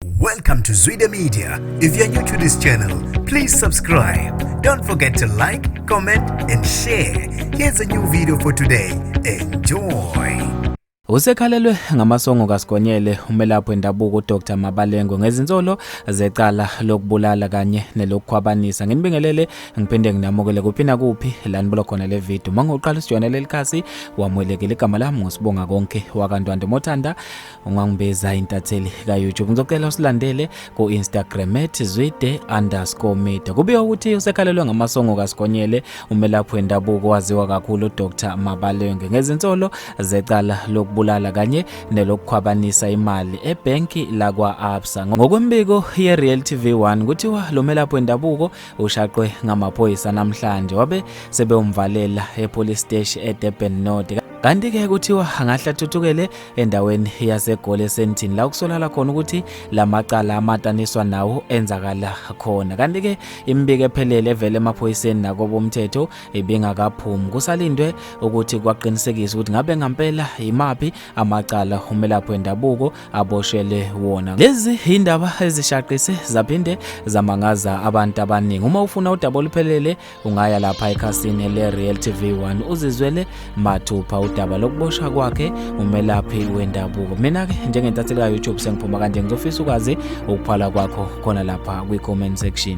Welcome to Zwide Media. If you're new to this channel, please subscribe. Don't forget to like, comment and share. Here's a new video for today. Enjoy. Usekhalelwe ngamasongo kaSigonyele umelaphi wendabuko uDr Mabalengo ngezinsolo zecala lokubulala kanye nelokukhwabanisa. Nginibingelele ngiphinde nginamukele kuphi na kuphi la nibulo khona le video. Mangoqala usijoyinele lelikhasi wamwelekile igama lami ngosibonga konke wakantwande Mothanda ungangibeza intatheli ka-youtube ngizocela usilandele ku-instagram at zwide underscore media kubika ukuthi usekhalelwe ngamasongo kasigonyele umelaphi wendabuko waziwa kakhulu udr mabalenge ngezinsolo zecala lokubulala kanye nelokukhwabanisa imali ebhenki lakwa-absa ngokwembiko ye-real tv 1 kuthiwa lo melaphi wendabuko ushaqwe ngamaphoyisa namhlanje wabe sebewumvalela epolice steshi edurban north kanti-ke kuthiwa angahle athuthukele endaweni yaseGoli eSandton la kusolakala khona ukuthi lamacala amataniswa nawo enzakala khona kanti ke imibiko ephelele evele emaphoyiseni nakobomthetho ibingakaphumi kusalindwe ukuthi kwaqinisekisa ukuthi ngabe ngampela yimaphi amacala umelaphi wendabuko aboshele wona lezi indaba ezishaqise zaphinde zamangaza abantu abaningi uma ufuna udaba oluphelele ungaya lapha ekhasini le-real tv 1 uzizwele mathupha udaba lokuboshwa kwakhe umelaphi wendabuko mina-ke njengentatheli ka-youtube sengiphuma kanje ngizofisa ukwazi ukuphala kwakho khona lapha kwi-comment section